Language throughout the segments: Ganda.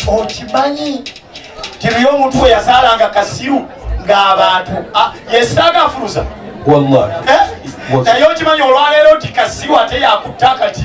okimanyi tiriyo omuntu we yazaalanga kasiru ng'abantu ah, yesitaaga afuluza eh? naye okimanyi olwaleero nti kasiru ate yakutte akati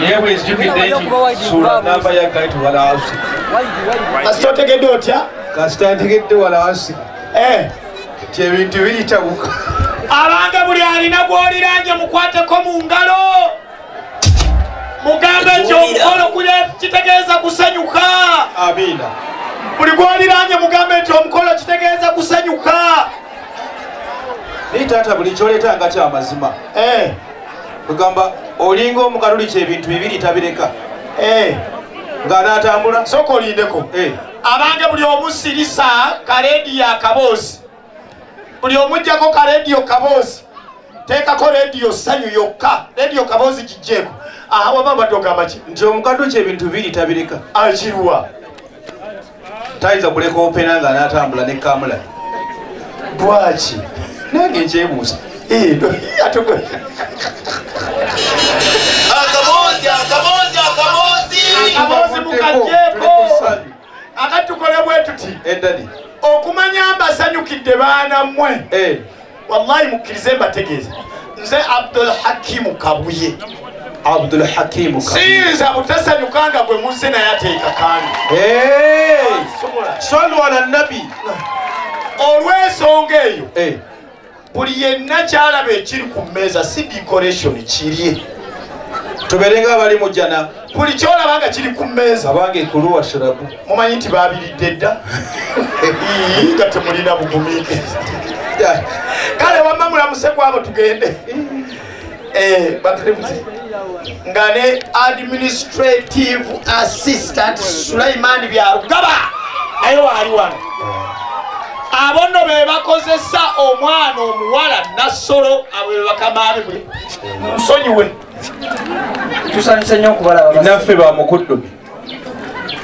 naye bwenzijukidde nti suula namba ya gati walaasi kasita otegedde otya kasita ntegedde walaasi eh. ti ebintu biritabuka abange buli alina gwoliranje mukwateko mu ngalo mugambe nti omukolo kuli kitegeeza kusanyuka amiina buli gwoliranye mugambe nti omukolo kitegeeza kusanyuka naye taata buli kyoleeta nga kyamazima eh. kugamba olinga omukaluli kyebintu bibiri tabireka eh. nga natambula soka olindeko eh. abange buli omu sirisa karediyo akaboozi buli omujjako karediyo kaboozi teekako rediyo sanyu yokka rediyo kaboozi kijjeeko aha waba badde ogamba ki nti omukaluli kyebintu bibiri tabireka akirwa ah, tayinza kuleka opena nga anatambula ne kamula lwaki nange nkyebuuza akati tukole bwetuti okumanya mbasanyukidde baana mmwe eh. wallahi mukkirize mbategeeza nze abdul hakimu kabuye abdul hakimu siyinza butasanyuka nga gwe muzze naye ateeka kandi sonwala nabi olw'ensonga eyo eh. buli yenna kyalaba ekiri ku mmeeza si decoration kirye tubeerenga abali mu jjana buli kyolaba nga kiri ku mmeeza abange kuluwa shirabu mumanyi nti babiridde dda nga temulina bugumiike kale wamma mulamuse kwabo tugende eh, bateremuze nga ne administrative assistant sulaimaani byarugaba naye waali wano abo nno be bakozesa omwana omuwala nassolo abo be bakamaani bwe nsonyiwe tusanyuse nyo okubalaba naffe bamukuddu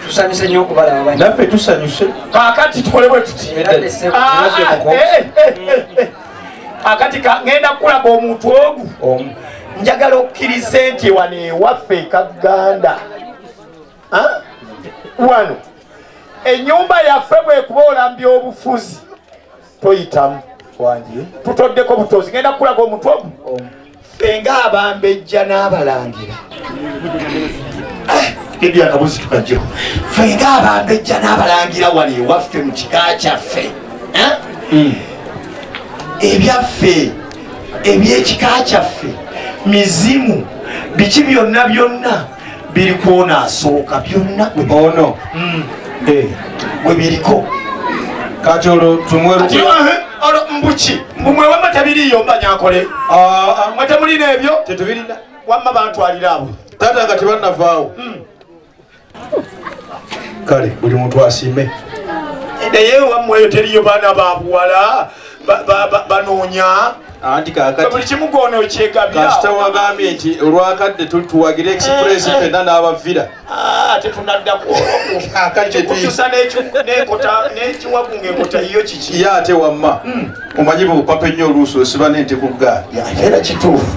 tusanyuse nyo okubalaba naffe tusanyuse kakati tukole bwe tuti ah, eh, eh, eh, akati ngenda kukulaba omuntu ogu njagala okukkiriza nti wano ewaffe ekaganda wano enyumba yaffe bwekuba olambya obufuzi toyitamu wangi tutoddeko butozi ngenda kukulaga omutwe omu ffe ngaabambejja n'abalangira ebyo akabuzi tukajjo ffe nga abambejja n'abalangira wano ewaffe mu kika kyaffe eh? hmm. ebyaffe ebyekika kyaffe mizimu biki byonna byonna biri kwona asooka byonna ono mm. eh, gwe biriko kati olwo tumweruki mbuki mbumwewama tabiriyo mbanyakole ah, ah. mwe temulina ebyo tetubirina wamma bantwalira abo tata nga tebanavaawo mm. kale buli muntu asiime naye wamweyo teriyo baana babuwala banoonya anti kakati kimu gwono okyegabira kasita wagambye nti olwakadde tuwagire express eh, eh. fenna n'abavira ah, tetunadda kukutusa nenkota nekiwagu ngaenkota yiyo kiki ye ate wamma hmm. omanyi bupapa ennyo oluusi osiba nente ku ggaali era kituufu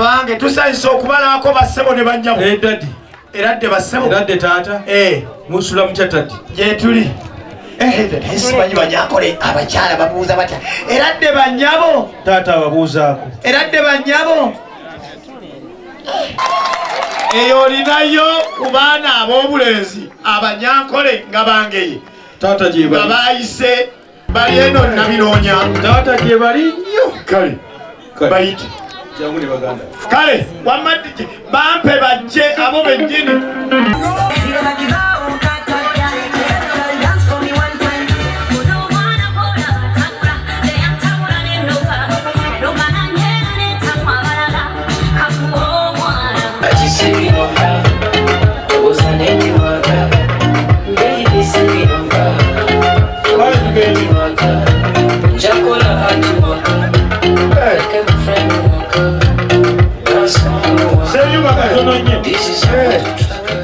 abange tusanyusa okubalabako bassebo ne bannyabo eh, era dde bassebo era dde taata eh. musula mutya tati gyetuli simanyi banyakole abakyala babuuza batya era dde banyabo taata ababuuzaako era dde banyabo eyo olinayo ku baana ab'obulenzi abanyankole nga bangeye taata gyebali nga baayise bali eno nabinoonya taata gyebali nnyo kale bayite kale wamma bampe bajje abo bennyini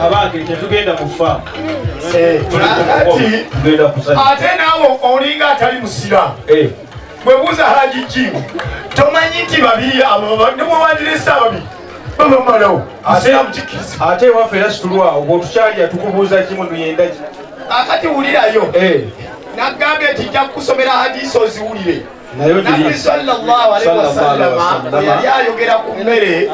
abange tetugenda kufa eh, ate naawe olinga atali musiraamu eh. bwebuuza haji jimu tomanyi nti babiri abobademubandiriza ababiri babamalawo asiramukikiza ate ewaffe era situlwawo bwotukyalya tukubuuza kimu nuyendaki akati wulirayo eh. nagambye nti nja kukusomera hadisi oziwulire nabbi salllahalaiwasalama yali ayogera ku mmere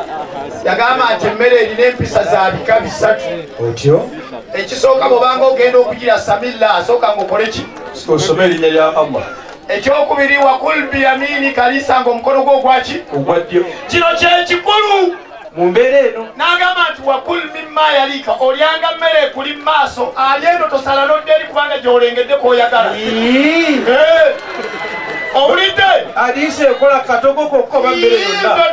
yagamba nti emmere erina empisa za bika bisatu otyo ekisooka bwobanga ogenda okugira samilla asooka ngaokoleki osome erinnya lya allah ekyokubiri wakul biyamini kalisanga omukono gwo ogwaki ogwaddyo kino kyekikulu mu mbeera eno n'agamba nti wakul mimma yaliika olyanga mmere ekuli mu maaso ali eno tosala nodde eri kubanga gy'olengedde kwoyagala owulidde adiisa ekola katogo kokko bammere yonna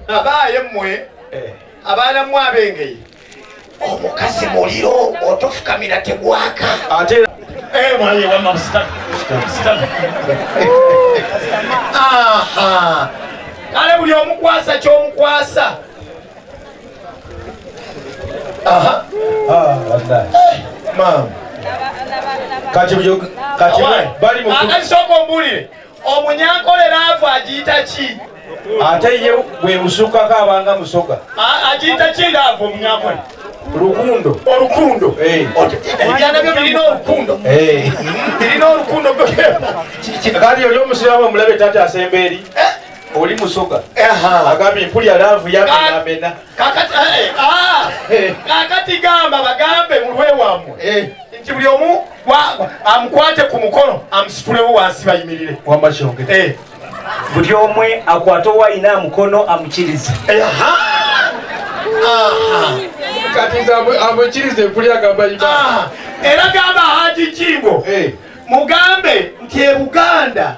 abaaye mmwe eh. abaana mmwe abengeye omukazi muliro otofukamira tegwaka ate eh, mwaye wama sitani sitani aha kale buli omukwasa kyomukwasa aha ah, maama kati byo kati bali mu kati soko mbulire omunyankolera avu agiyita ki ate ye bwebusukkako abanga musoga agiyita ki nga avu omunyankolera lukundo olukundo eh. ebyana byo birina olukundo eh. birina olukundo kati oli omusiramu omulabe tata asemba eri eh? oli musoga agambye mpulya laavu yamenamena kakati ah, ah. gamba bagambe mulwewamwe nti buli omu amukwate ku mukono amusitulewo wansi bayimirire wamba kyogere eh. buli omwe akwate owayina amukono amukirize ah. era gamba haji jingo eh. mugambe nti ebuganda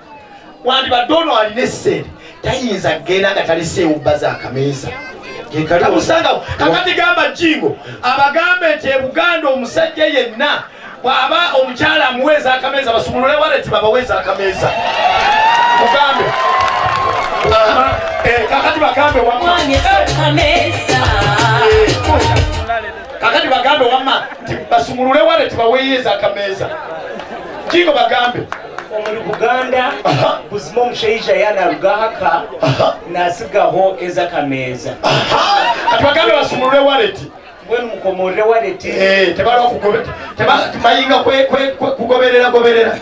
wandibadde ono alina essente tayinza kugenda nga taliseewo bbaza akameeza kekatamusangawo kakati gamba jingo abagambe nti ebuganda omusajja yenna bwaba omukyala amuweeza akameeza basumulule waleti babaweeza akameeza mugambe eh, kakati bagambe wamma kakati bagambe wamma nti basumulule waleti baweyeeza akameeza jingo bagambe omuli buganda buzima omushaija yanarugahaka nasigaho eza kameeza kati baganda basumulule waleti mbwenu mukomorere waleti eh, tebayinga kugoberera goberera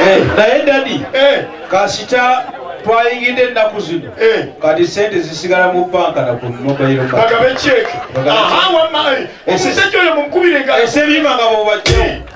eh, naye dadi eh. kasita twayingidde ennaku zino eh. kati sente zisigala mu banka nakumobairobagabekyeke omusajja oyo mumukubire nga esebyima nga bobajjawo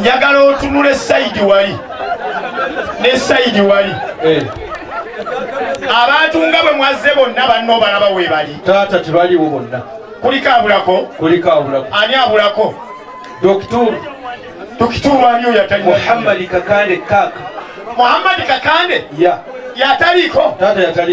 njagala otunula esayidi wali nesayidi wali eh. abantu nga bwe mwazze bonna banna obalaba webali taata tebaliwo bonna kuliko abulako kuliko abulako ani abulako dokituru dokituru ani oyo atali muhammadi kakande kaka muhammadi kakande ya yataliko taata yataliko